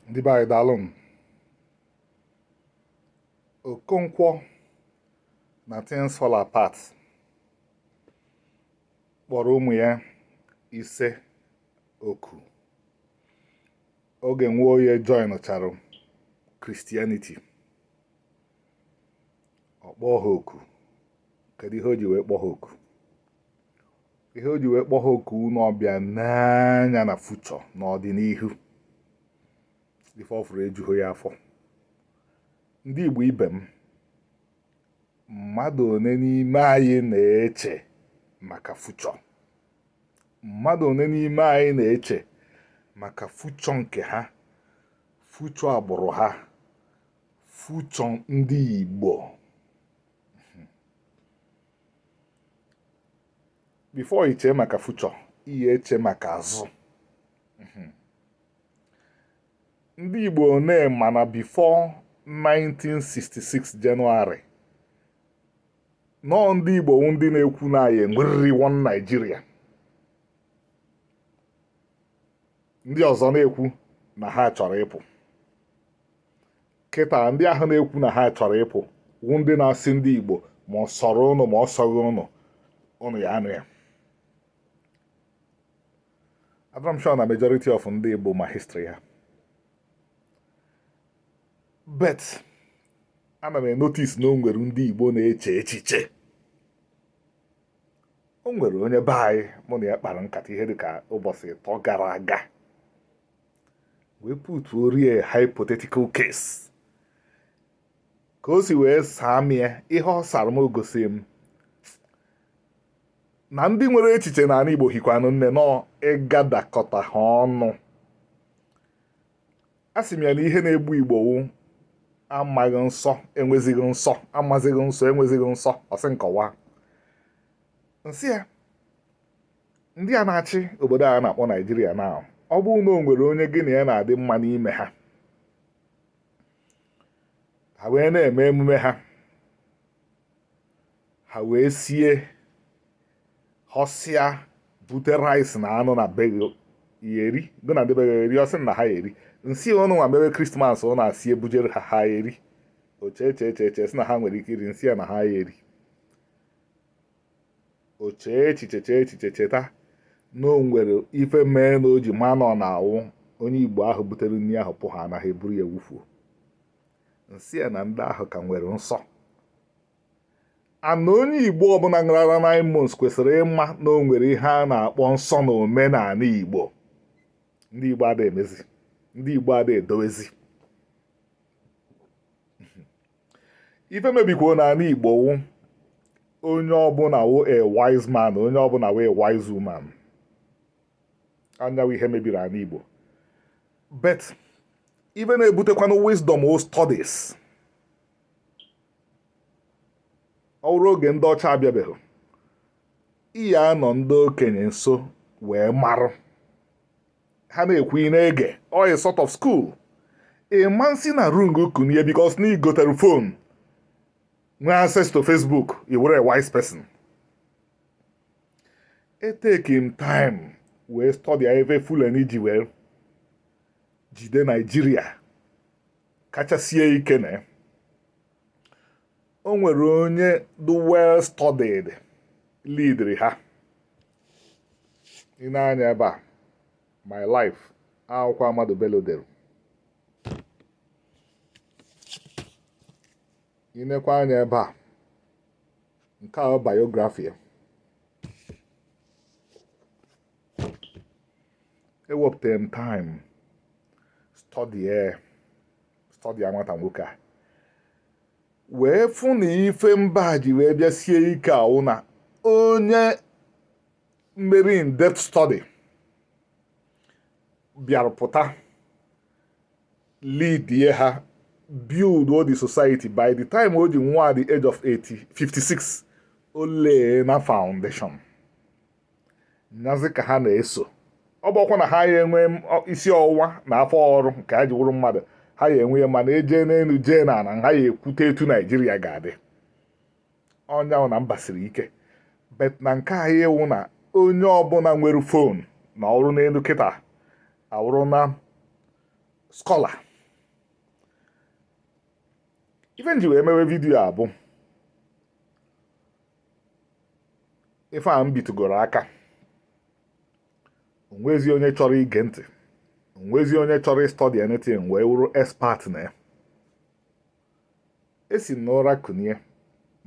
ndị be anyị daalụnụ okonkwo na things fall apart kpọrọ ụmụ ya ise oku oge nwoye joinchara christianity ọ kpọọ ha oku kedu ihe o ji wee kpọọ ha oku ihe o ji wee kpọọ ha oku wụ na ọ bịa nee anya na future n'ọdịnihu ife ọ fụrụ ejughị ya afọ ndị Igbo ibe m mmadụ one n'ime anyị na-eche maka future mmadụ one n'ime anyị na-eche maka future nke ha future agbụrụ ha future ndị Igbo before i chee maka future ị ya-eche maka azụ mhm. ndị Igbo one ma na before 1966 January na ọọ ndị Igbo wụ ndị na-ekwu na anyị ya-enweriri one Nigeria ndị ọzọ na-ekwu na ha chọrọ ịpụ kịta ndị ahụ na-ekwu na ha chọrọ ịpụ wụ ndị na-asị ndị Igbo ma ọ sọrọ ụnụ ma ọ sọghị ụnụ ụnụ ya-anọ ya adịrọ m sure na majority of ndị Igbo ma history ha but ana m enotice na o nwere ndị Igbo na-eche echiche o nwere onye be anyị mụ na ya kpara nkata ihe dịka ụbọchị ịtọ gara aga wee putuoro ya hypothetical case ka o si wee saa m ya ihe ọ sara m gosi m na ndị nwere echiche n'ala Igbo hikwanụ nne na ọ ịgadakọta ha ọnụ asị m ya na ihe na-egbu Igbo wụ amaghị nsọ enwezighị nsọ amazighị nsọ enwezighị nsọ ọ sị m kọwaa m sị ya ndị a na-achị obodo a na-akpọ nigeria na ọ bụrụ na o nwere onye gị na ya na-adị mma n'ime ha ha wee na-eme emume ha ha wee sie họsịa bute rice na anụ na be gị ị ya-eri gị na ndị be gị ya-eri ọ sị na ha ya-eri m sị ya ụnụ nwa mewe christmas ụnụ esie bujere ha ha eri o chee chee chee chee sị na ha nwere ike iri m sị ya na ha ya-eri o chee echiche chee echiche cheta na o nwere ife mee na o ji ma na ọ na-awụ onye igbo ahụ butere nri ahụ pụ ha anaghị eburu ya wufuo m sị ya na ndị ahụ ka nwere nsọ ana onye igbo ọbụla a mụrụ na nine months kwesịrị ịma na o nwere ihe a na-akpọ nsọ na omenala igbo ndị igbo ada emezi ndị igbo ada edowezi ife mebikwanụ ala Igbo wụ onye ọbụla wụ a wise man onye ọbụla wụ a wise woman ọ nya wụ ihe mebiri ala Igbo but ife na-ebutekwanụ wisdom wụ studies ọ bụrụ oge ndị ọcha abịabeghị ị ya-anọ ndị okenye nso wee marụ ha na-ekwu ị na-ege ọ wụ a sort of school ị ma-esi n'ụra kunie because na i gotere phone nwee access to Facebook ị wụrụ a wise person etake m time wee study ebe Fulani ji wee jide Naijiria kachasie ike na o nwere onye dị well studied leadiri ha i nee anya ebe a my life akwụkwọ Ahmadu Bello dere i nekwa anya ebe a nke a biography ya ewepụtara m time study stọdịa nwata nwoke a wee fụ na ife mba ji wee bịa sie ike awụ na onye meri in depth study bịarụ pụta leadie ha build all the society by the time o ji nwụọ at the age of 56 o layna foundation nyazi ka ha na-eso ọ bụkwa na ha ya enwe isi ọwụwa na afọ ọrụ nke ha ji wụrụ mmadụ ha ya enwe ya mana e jee n'elu jee na ala ha ya ekwute etu naijiria ga-adị ọ nya wụ na mba siri ike but na nke anyị wụ na onye ọbụla nwere phone na ọrụ n'elu kịta awụrụna scholar ife m ji wee mewe video a bụ ife a m bitụgoro aka o nwezi onye chọrọ ige ntị o nwezi onye chọrọ ịstudy anything wee wụrụ expert na ya e si n'ụra kunie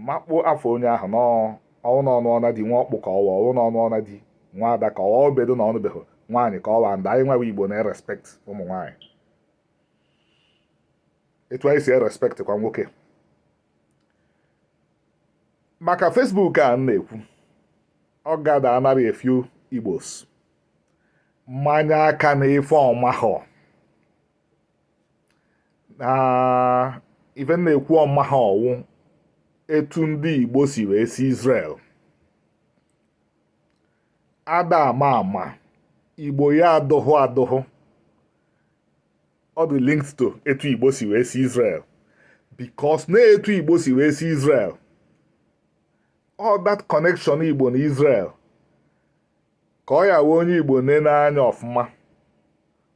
makpo afọ onye ahụ n'ọnwụ n'ọnụ ọna di nwa ọkpụ ka ọwa ọnwụ n'ọnụ ọna di nwa ada ka ọwa obedo na ọ nụbeghị nwaanyị ka ọwa nda anyị wawa igbo na-erespect ụmụ nwaanyị etu anyị si erespectkwa nwoke maka Facebook a na-ekwu ọ gada anara a few igbos manye aka na ife ọ mahọ na ife na-ekwu ọ mahọ ọ wụ etu ndị igbo si wee si Israel ada ama ama igbo ya adụhụ adụhụ ọ dị linked to etu igbo si wee si Israel because na etu igbo si wee si Israel all that connection igbo na Israel ka ọ ya wee onye igbo nene anya ọfụma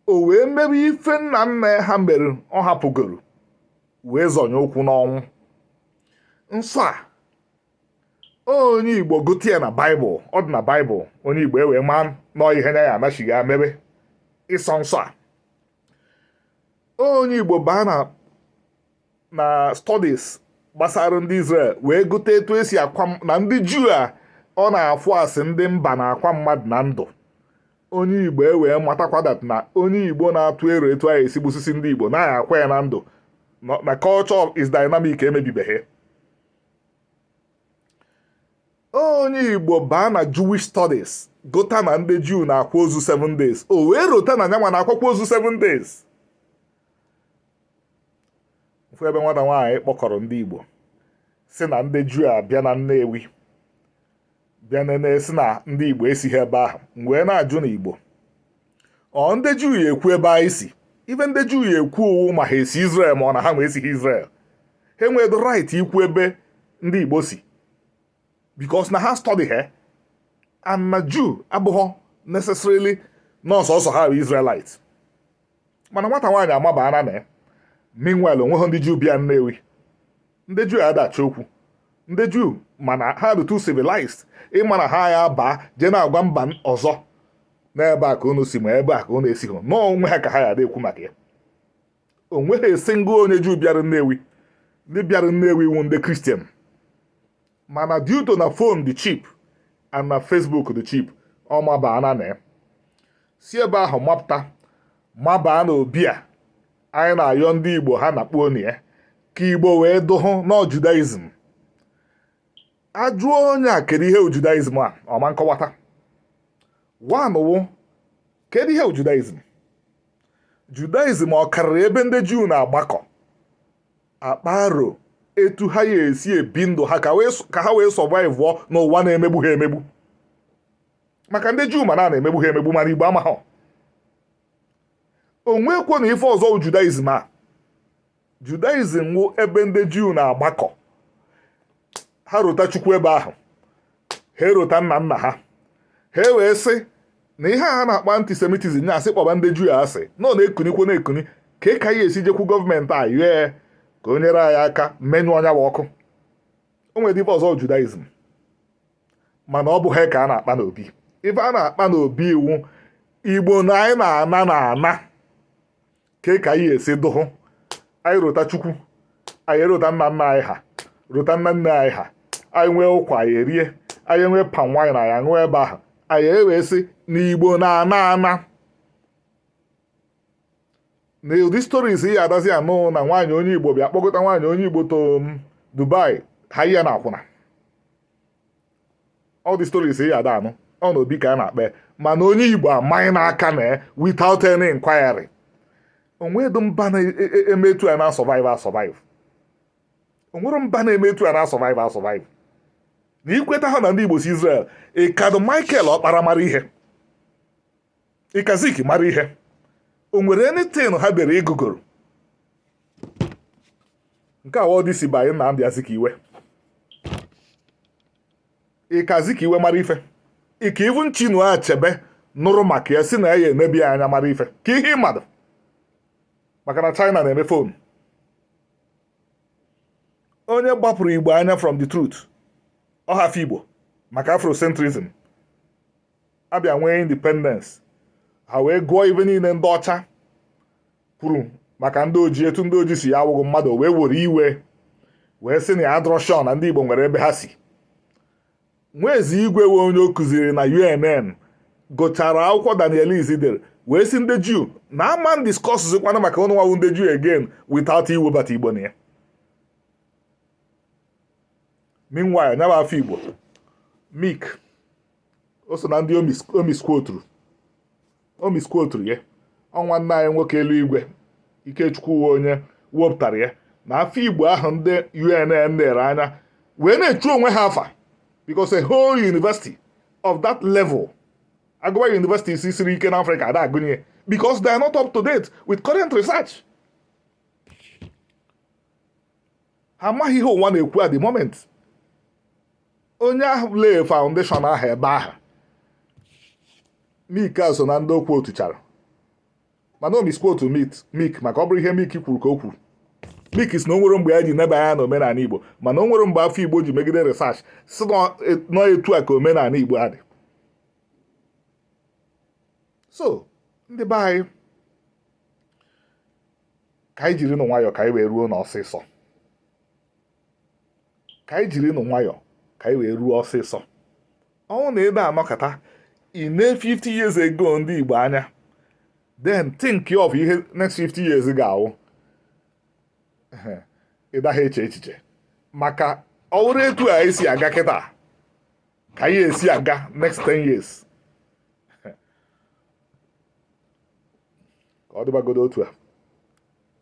o wee mebe ife nna nna ha mere ọ hapụgoro wee zọnye ụkwụ n'ọnwụ nsọ a onye igbo gụta ya na baịbụl ọ dị na baịbụl onye igbo ewee maa na ọ ihe na ya anachighị ya mebe ịsọ nsọ a onye igbo baa na na studies gbasara ndị Israel wee gụta etu e si akwa na ndị Juu a ọ na-afụ asị ndị mba na-akwa mmadụ na ndụ onye igbo ewee matakwa na onye igbo na-atụ ero etu anyị esi gbusisi ndị igbo na-akwa ya na ndụ na culture is dynamic emebibeghị onye igbo baa na jewish studies gụta na ndị juu na-akwa ozu 7 days o wee rota na nya nwa na-akwakwa ozu 7 days m fụ ebe nwata nwaanyị kpọkọrọ ndị igbo sị na ndị juu abịa na nnewi bịa nene sị na ndị igbo esighị ebe ahụ m wee na-ajụ na igbo ọ ndị juu ya ekwu ebe anyị si ife ndị juu ya ekwu ọ wụ ma ha esi Israel ma ọ na ha nwa esighị Israel ha enweghị right ikwu ebe ndị igbo si because na ha study ha ama na juu abụghọ necessarily na ọ sọọsọ ha bụ Israelite mana nwata nwaanyị amabaara na ya meanwhile o nweghị ndị juu bịa nnewi ndị juu ada achọ okwu ndị juu ma na ha dị too civilized ịma na ha ya baa jee na-agwa mba ọzọ n'ebe a ka unu si ma ebe a ka unu esighị na ọ onwe ha ka ha ya ada ekwu maka ya o nweghị a single onye juu bịara nnewi ndị bịara nnewi wụ ndị Christian mana due to na phone dị cheap and na Facebook dị cheap ọ mabaa na na ya si ebe ahụ mapụta mabaa na obi a anyị na-ayọ ndị Igbo ha nakpuo na ya ka Igbo wee dụhụ na Judaism ajụọ onye a kedu ihe wụ Judaism a ọ ma nkọwata wanụwụ kedu ihe wụ Judaism Judaism ọ karịrị ebe ndị Juu na-agbakọ akpa arọ etu ha ya esi ebi ndụ ha ka ha wee sọvaịvụọ n'ụwa na-emegbu ha emegbu maka ndị juu ma na a na-emegbu ha emegbu mana igbo amaghọ o nwekwọ na ife ọzọ judaism a judaism wụ ebe ndị juu na-agbakọ ha rota chukwu ebe ahụ ha erota nna nna ha ha ewee sị na ihe a na-akpọ antisemitism na-asị kpọba ndị juu asị na ọ na-ekunikwo na-ekuni ke ka anyị esi jekwu gọọmenti anyị ka o nyere anyị aka menyụọ nya bụ ọkụ o nwere ife ọzọ judaism mana ọ bụ ha ka a na-akpa n'obi ife a na-akpa n'obi wụ igbo na anyị na-ana na ana ke ka anyị esi dụhụ anyị rota chukwu anyị erota nna nna anyị ha rota nna nne anyị ha anyị nwee ụkwa anyị erie anyị nwee palm wine anyị aṅụọ ebe ahụ anyị ewee sị na igbo na-ana ana na ụdị stories ị ya adazi anụ na nwaanyị onye igbo bịa kpọkọta nwaanyị onye igbo to um, dubai ha ihe na akwụna ụdị stories ị ya ada anụ ọ na obi ka a na-akpa mana onye igbo amaghị n'aka na ya without any inquiry o nwedụ mba na-eme etu a na-asọvive asọvive o nwere mba na-eme etu a na-asọvive asọvive na i kwetaha na ndị igbo si Israel ị kadụ Michael Ọkpara mara ihe ị ka Zik mara ihe o nwere anything ha dere ị gụgoro nke wụ Odyssey by Nnamdi Azikiwe ị ka Azikiwe mara ife ị ka even Chinua Achebe nụrụ maka ya sị na ya eneba anya mara ife ke ihe ị madụ maka na China na-eme phone onye gbapụrụ igbo anya from the truth ọ Afigbo maka afrocentrism a bịa nwee independence ha wee gụọ ife niile ndị ọcha kwuru maka ndị oji etu ndị oji si ya awụghị mmadụ wee were iwe wee sị na ya adịrọ sure na ndị Igbo nwere ebe ha si Nwaezeigwe wụ onye ọ kụziri na UNN gụchara akwụkwọ Daniel Lis dere wee sị ndị Juu na a ma na-adiskọsụzikwana maka ụnụ nwa wụ ndị Juu again without iwebata Igbo na ya meanwhile nya bụ Afigbo mik o so na ndị o miskwoturu o miskwoturu ya ọ nwanna anyị nwoke eluigwe ikechukwu wụ onye wepụtara ya na Afigbo ahụ ndị unn nere anya wee na-echu onwe ha afa because a whole university of that level a gụwa universities siri ike na afrịka ada agụnye because they are not up to date with current research ha amaghị ihe ụwa na-ekwu at the moment onye ahụ lay foundation ahụ ebe ahụ Meek a so na ndị ọ quotechara mana ọ misquote Meek maka ọ bụrụ ihe Meek kwuru ka o kwuru Meek sị na o nwere mgbe ya ji neba anya na omenala igbo mana o nwere mgbe Afigbo ji megide research sị na ọ etu a ka omenala igbo adị so ndị be anyị ka anyị jiri nụ nwayọọ ka anyị wee ruo n'ọsịsọ ka anyị jiri nụ nwayọọ ka anyị wee ruo ọsịsọ ọ wụ na ebe a nọkọta ihe 50 years ago ndị Igbo anya then think of ihe next 50 years ga-awụ ị daghị eche echiche maka ọ wụrụ etu a esi aga kịta ka ihe esi aga next 10 years ka ọ dịbagodo otu a